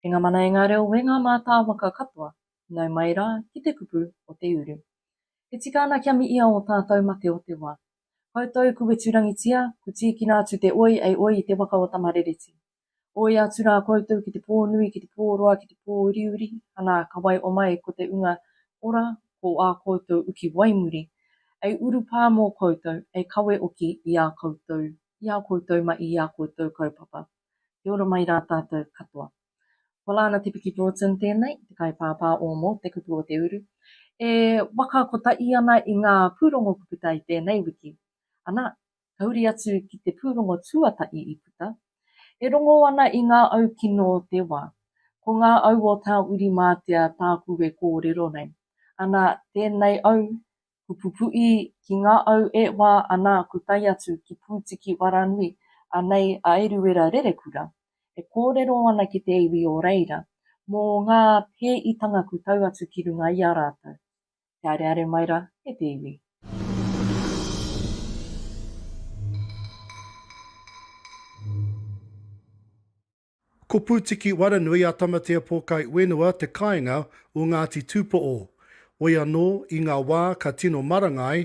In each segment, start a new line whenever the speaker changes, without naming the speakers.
E ngā mana, e ngā reo, e ngā mātāwaka katoa, nau mai rā ki te kupu o te uru. E tika ana kia mihia ō tātou mate o te wā. Koutou kuweturangitia, ku tīkina atu te oi ei oi i te waka o Tamarereti. Oi atu rā koutou ki te pō nui, ki te pō roa, ki te pō uriuri, anā, ka wai omai ko te unga ora ko ā koutou uki waimuri, ei urupā mō koutou, ei kawe oki i ā koutou, i ā koutou ma i ā koutou kaupapa. Kia ora mai rā tātou katoa. Ko Lana Te Piki Broughton tēnei, te kaipāpā o mō Te Kupu o Te Uru, e waka kotahi ana i ngā pūrongo kupu tae tēnei wiki. Anā, kauri atu ki te pūrongo tuatahi i puta, e rongo ana i ngā au kino o te wā. Ko ngā au o Tāwhirimātea tāku e kōrero nei, ana, tēnei au, ko Pupuī, ki ngā au e wā, ana, ko tai atu ki Pūtiki Waranui, anei a Eruera Rerekura, e kōrero ana ki te iwi o reira, mō ngā pēitanga kutau atu ki runga i a rātou. Te areare mai ra e te iwi.
Ko Pūtiki Waranui a Tamatea Pōkai Uenua te kāinga o Ngāti Tūpoʻo. Woi anō, i ngā wā ka tino maranga ai,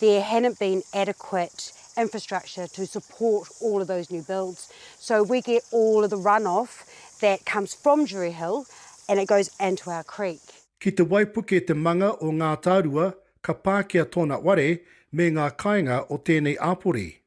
there hadn't been adequate infrastructure to support all of those new builds. So we get all of the runoff that comes from Drury Hill and it goes into our creek. Ki te waipuke
te manga o Ngātārua ka pākia tōna ware me ngā kāinga o tēnei āpori.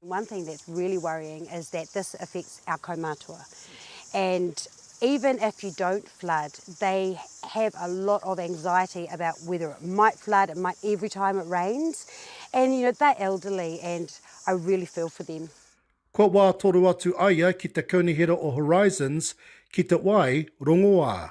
One thing that's
really worrying is that this affects our kaumatua and even if you don't flood they have a lot of anxiety about whether it might flood, it might every time it rains and you know they're elderly and I really feel for them. Kua wā toro
atu aia ki te kaunihera o Horizons ki te wai rongoā.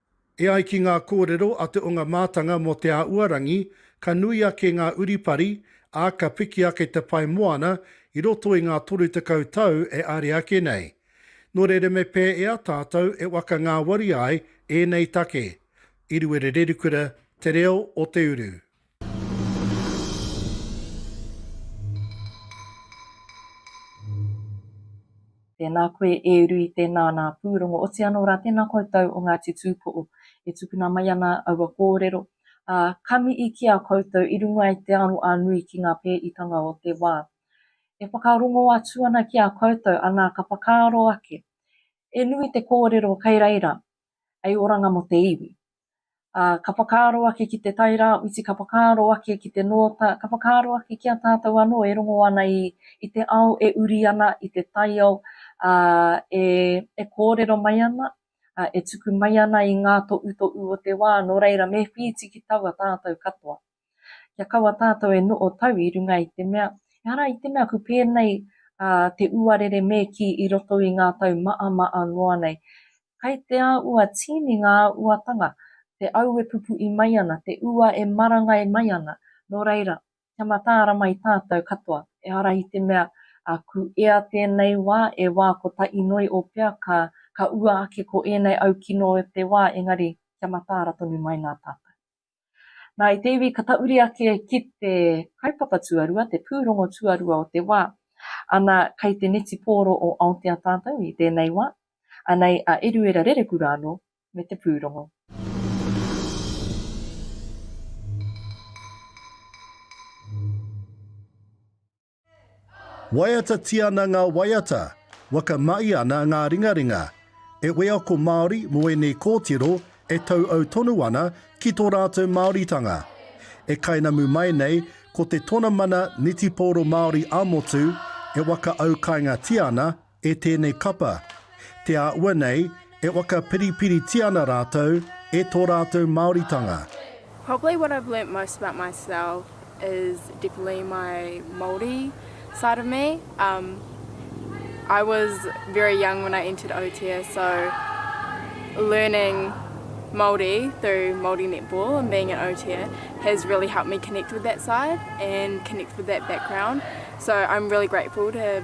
E ai ki
ngā kōrero a te onga mātanga mō Te Āuarangi, ka nui ake ngā uripari, ā, ka piki ake te pae moana i roto i ngā 30 tau e are ake nei. Nō reira me pēea tātou e waka ngāwari ai ēnei take, Iruere Rerikura, Te Reo o te Uru.
Tēnā koe e uru i tēnā nā pūrongo. Oti anō rā, tēnā koutou o Ngāti Tūpoʻo e tukuna mai ana aua kōrero, ā, ka mihi ki a koutou i runga i te aro a Nui ki ngā pēitanga o te wā. E whakarongo atu ana ki a koutou, anā, ka whakaaro ake, he nui te kōrero kei reira, hei oranga mō te iwi. Ā, ka whakaaro ake ki te Tairāwhiti, ka whakaaro ake ki te Nōta, ka whakaaro ake ki a tātou anō e rongo ana i, i te ao e uri ana, i te taiao, ā, e, e kōrero mai ana, ā, e tuku mai ana i ngā toʻutoʻu o te wā, nō reira, me whītiki taua tātou katoa. Kia kaua tātou e noʻo tau i runga i te mea, ehara i te mea ku pēnei a te uarere me ki i roto i ngā tau maʻamaʻa noa nei. Kai te a ua tīni ngā uatanga, te au e pupuʻi mai ana, te ua e marangai mai ana, no reira, kia mataara mai tātou katoa, ehara i te mea, a ku ea tēnei wā e wā ko ta inoi o pea ka ka ua ake ko ēnei au kino o te wā engari kia mataara tonu mai nā tātou. Nā, i te iwi ka tauri ake ki te kaupapa tuarua, te pūrongo tuarua o te wā. Ana, kei te netipōro o Aotea tātou i tēnei wā, anei a Eruera Rereku rānō me te pūrongo.
Waiatatia ana ngā waiata, waka mai ana ngā ringaringa. E wheako Māori mō ēnei kōtiro e tauau tonu ana ki tō rātou Māoritanga. E kainamu mai nei ko te Tonamana Netipōro Māori ā-Motu e waka aukāingatia ana E tēnei kapa, te a ua nei, e whakapiripiritia ana rātou e tō rātou Māoritanga. Probably what
I've learnt most about myself is definitely my Māori side of me. Um, I was very young when I entered Aotea, so learning Māori through Māori netball and being at Aotea has really helped me connect with that side and connect with that background. So I'm really grateful to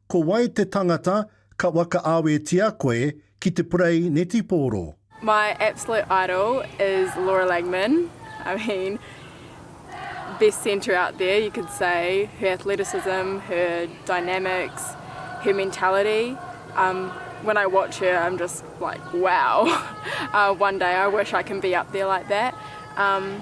Ko wai te tangata ka whakaawetia koe ki te purei netipōro? My absolute
idol is Laura Langman, I mean, best centre out there you could say, her athleticism, her dynamics, her mentality, um, when I watch her I'm just like wow, one day I wish I can be up there like that. Um,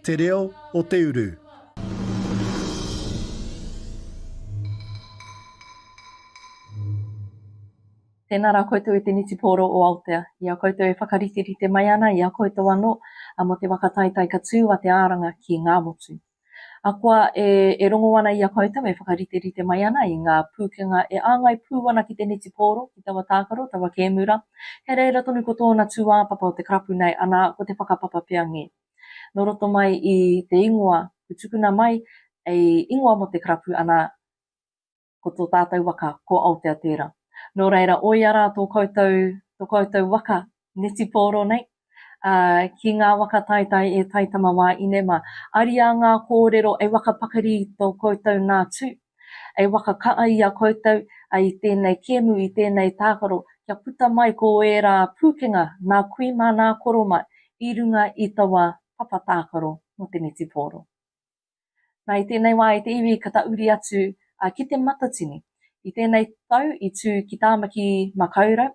Te Reo o te Uru.
Tēnā rā koutou e te Nitipōro o Aotea, i a koutou e whakariterite mai ana i a koutou anō mō te waka taetae ka tū a te āranga ki Ngāmotu. Ahakoa e rongo ana i a koutou e whakariterite mai ana i ngā pūkenga e āngai pū ana ki te Nitipōro, ki taua tākaro, taua kēmu rā, he reira tonu ko tōna tūāpapa o te karapu nei, anā, ko te whakapapa pea ngē. Nō roto mai i te ingoa i tukuna mai ei ingoa mō te karapu ana ko tō tātou waka ko Aotea tērā. Nō reira oia rā tō koutou, tō koutou waka netipōro nei, ā, ki ngā waka taetae e Taitama wā inema. Ariā ngā kōrero e waka pakari i tō koutou nā tū. E waka kaʻa i a koutou i tēnei kēmu, i tēnei tākaro, kia puta mai ko ērā pūkenga nā kui mā nā koro mā i runga i taua papa tākaro mō te netipōro. Nā, i tēnei wā, i te iwi ka tauri atu ki Te Matatini. I tēnei tau i tū ki Tāmaki Makaurau,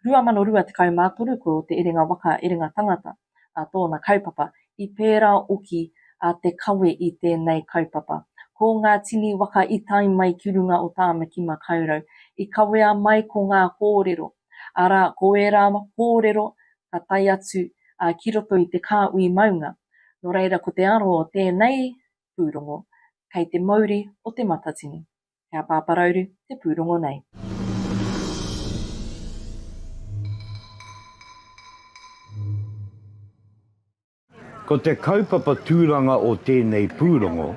2023, ko Te Erenga Waka, Erenga Tangata. a tōna kaupapa, i pērā oki a Te Kawe i tēnei kaupapa. Ko ngā tini waka i tae mai ki runga o Tāmaki Makaurau, i kawea mai ko ngā kōrero, arā, ko ērā kōrero ka tae atu ki roto i te kāhui maunga. Nō reira ko te aro o tēnei pūrongo, kei te mauri o Te Matatini. He a Pāpā Rauru te pūrongo nei.
Ko te kaupapa tūranga o tēnei pūrongo,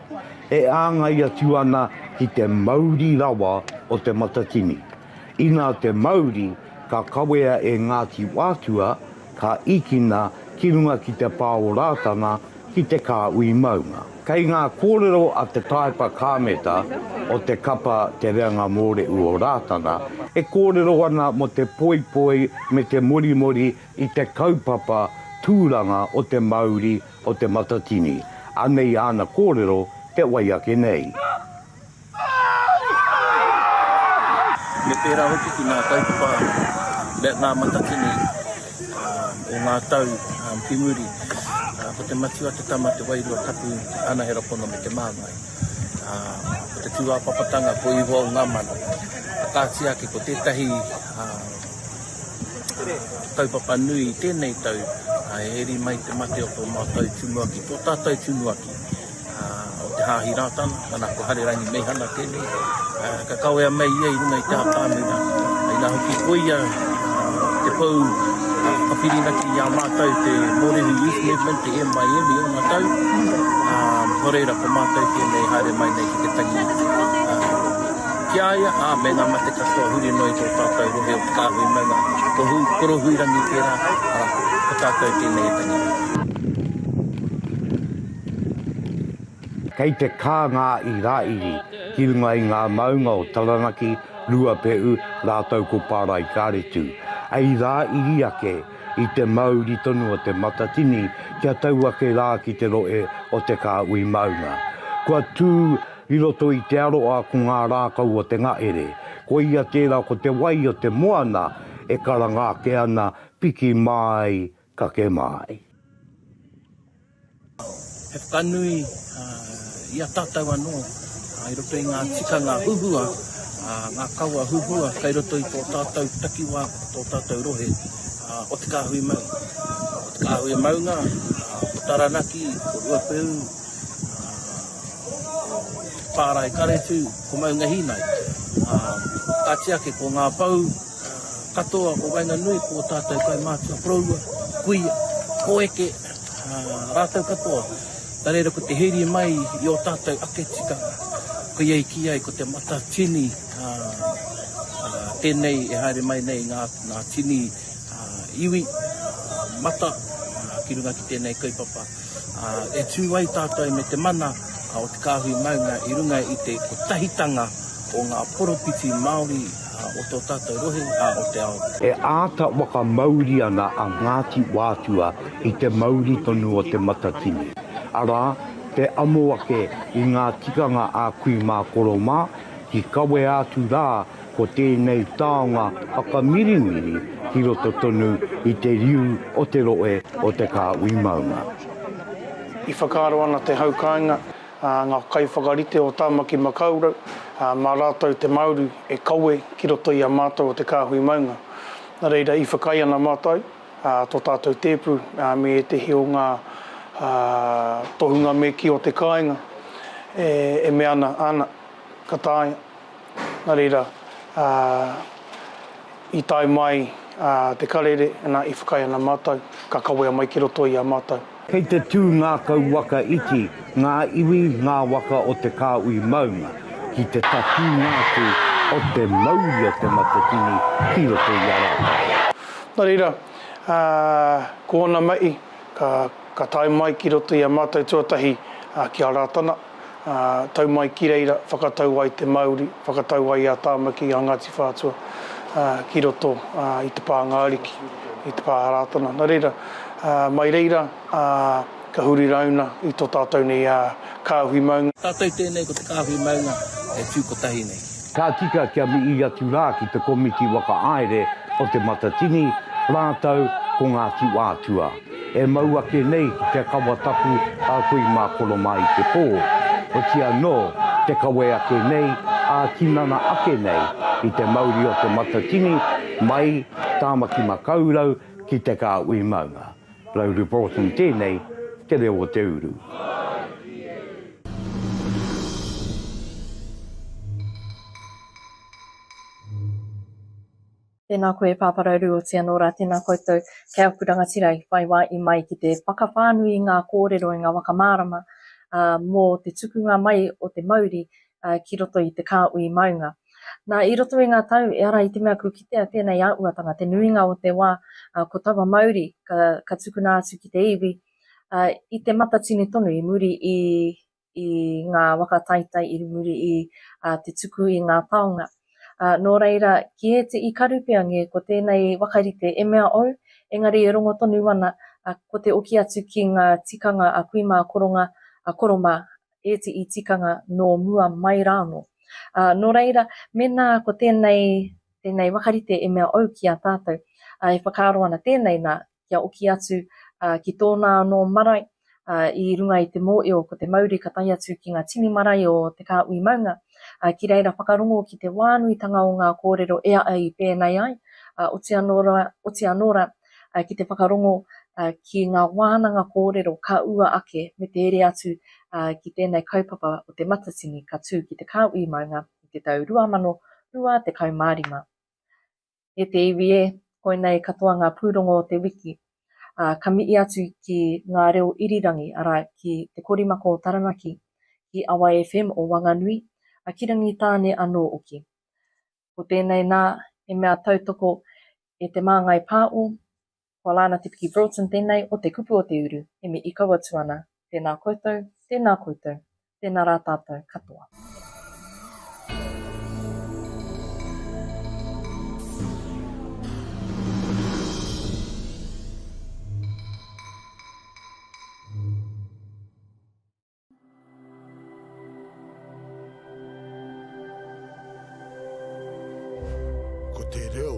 e āngai atu ana ki te mauri rawa o Te Matatini. Inā te mauri ka kawea e Ngāti Wātua, ka ikina ki runga ki te pā o Rātana ki te kāhui maunga. Kei ngā kōrero a te taepa kāmeta o te kapa Te Reanga Mōrehu o Rātana e kōrero ana mō te poipoi me te morimori i te kaupapa tūranga o te mauri o Te Matatini, anei āna kōrero te wai ake nei.
Me pērā hoki ki ngā kaupapa me ngā matatini o ngā tau ki muri, ko te matua te tama te wairua tapu te anahera pono me te māngai. Ko te tūāpapatanga ko ihoa o ngā mana. Ka kāti ake ko tētahi kaupapa nui i tēnei tau, he eri mai te mate o tō mātou tumuaki, tō tātou tumuaki. o te Hāhi Rātana, nana ko Harerangi Meihana tēnei, ka kawea mai ia i runga i te ātamina, inā hoki ko ia te pou ka whirinaki i a mātou te Mōrehu Youth Movement, te MYM i ōna tau, nō reira ko mātou tēnei haere mai nei ki te tangi ki a ia, ā, me ngā mate katoa huri noa i tō tātou rohe o Te Kāhui Maunga, ko Korohuirangi tērā, arā, ko tātou tēnei e tangi.
Kei te kā ngā Irāiri ki runga i ngā maunga o Taranaki, Ruapehu rātou ko Pāraikareti. Hei rā iri ake i te mauri tonu o Te Matatini kia tau ake rā ki te rohe o Te Kāhui Maunga. Kua tū i roto i te aroa ko ngā rākau o Te Ngahere. Koia tērā ko te wai o te moana e karanga ake ana piki māi Ka kē māi.
He whakanui i a tātou anō i roto i ngā tikanga huhua, ngā kawa huhua kei roto i tō tātou takiwā, tō tātou rohe o Te Kāhui Maunga. Ko Te Kāhui Maunga, ko Taranaki, ko Ruapehu, ko Pārae Karetu, ko Maunga Hīnai. Kāti ake ko Ngā Pou, Katoa ko waenganui ko tatou kaumātua koroua, kuia, koeke, rātou katoa nā reira ko te heri mai i o tatou ake tikanga koia i kī ai ko te matatini tenei e haere mai nei ngā tini iwi mata ki runga ki tenei kaupapa e tū ai tatou me te mana o te kāhui maunga i runga i te kotahitanga o ngā poropiti Māori o tō tātou rohe, ā, o te ao. E āta
whakamauri ana a Ngāti Wātua i te mauri tonu o Te Matatini, arā, te amo ake i ngā tikanga a Kui mā Koro mā, ki kawea atu rā ko tēnei taonga whakamirimiri ki roto tonu i te riu o te rohe o Te Kāhui Maunga.
I whakaaro ana te hau kāinga ngā kaiwhakarite o Tāmaki Makaurau, mā rātou te Māori e kawe ki roto i a mātou o te kāhui maunga. Nā reira, i whakaae ana mātou tō tātou tēpu me ētehi o ngā tohunga me kī o te kāinga e mea ana, ana, ka taea. Nā reira, i tae mai te karere, nā, i whakaae ana mātou, ka kawea mai ki roto i a mātou. Kei te tū
ngākau waka iti ngā iwi, ngā waka o te kāhui maunga ki te tatūnga atu o te mauri o te matatini ki roto i a rātou. Nō reira,
ko ōna mahi ka tae mai ki roto i a mātou tuatahi ki a Rātana. ā, tau mai ki reira, whakatau ai te mauri, whakatau ai a Tāmaki, a Ngāti Whātua, ā, ki roto, ā, i te pānga ariki, i te pā Rātana. Nā reira, ā, mai reira, ā, ka huri rāuna i tō tātou nei, ā, kāhui maunga. Tātou tēnei ko te
kāhui maunga e tū kotahi nei. Ka tika kia
mihi atu rā ki te Komiti Whakahaere o Te Matatini rātou ko Ngāti Whātua. E mau ake nei te kawa tapu a koe mā kono mā i te pō, hoki anō te kawe ake nei, ā-tinana ake nei i te mauri o Te Matatini mai Tāmaki Makaurau ki Te Kāhui Maunga. Lauri Broughton tēnei, Te Reo o te Uru.
Tēnā koe Pāpā Rauru o Tianora, tēnā koutou kei aku rangatira i whai wā i mai ki te whakawhānui i ngā kōrero, i ngā waka mārama mō te tukunga mai o te mauri ki roto i te kāhui maunga. Nā, i roto i ngā tau, ehara i te mea kua kitea tēnei āhuatanga, te nuinga o te wā, ko taua mauri ka tukuna atu ki te iwi, i te matatini tonu i muri i i ngā waka taitai i muri i te tuku i ngā taonga. Nō reira, ki ēte i Karupeange, ko tēnei wakarite e mea ou, engari e rongo tonu ana, ko te oki atu ki ngā tikanga a kui mā koronga, a koro mā ēte i tikanga nō mua mai rānō. Nō reira, mēnā ko tēnei, tēnei wakarite e mea ou ki a tātou, e whakaaro ana tēnei nā, kia oki atu ki tōna anō marae i runga i te mōeo ko te mauri ka tae atu ki ngā tini marae o te kāhui maunga. Ki reira whakarongo ki te wānuitanga o ngā kōrero e a au i pēnei ai, oti anō rā, oti anō rā ki te whakarongo ki ngā wānanga kōrero ka ua ake me te ere atu ki tēnei kaupapa o Te Matatini ka tū ki te kāhui maunga i te tau 2025. E te iwi e, koinei katoa ngā pūrongo o te wiki, ā, ka mihi atu ki Ngā Reo Irirangi, arā, ki Te Korimako o Taranaki, ki Awa FM o Wanganui, a ki Rangitāne anō hoki. Ko tēnei nā, he mea tautoko e Te Māngai Pāo, Kua la ana te piki Broughton tenei o te kupu o te uru, he me i kau atu ana, Tena koutou, tena koutou, tena ra tatou katoa. Ko te reo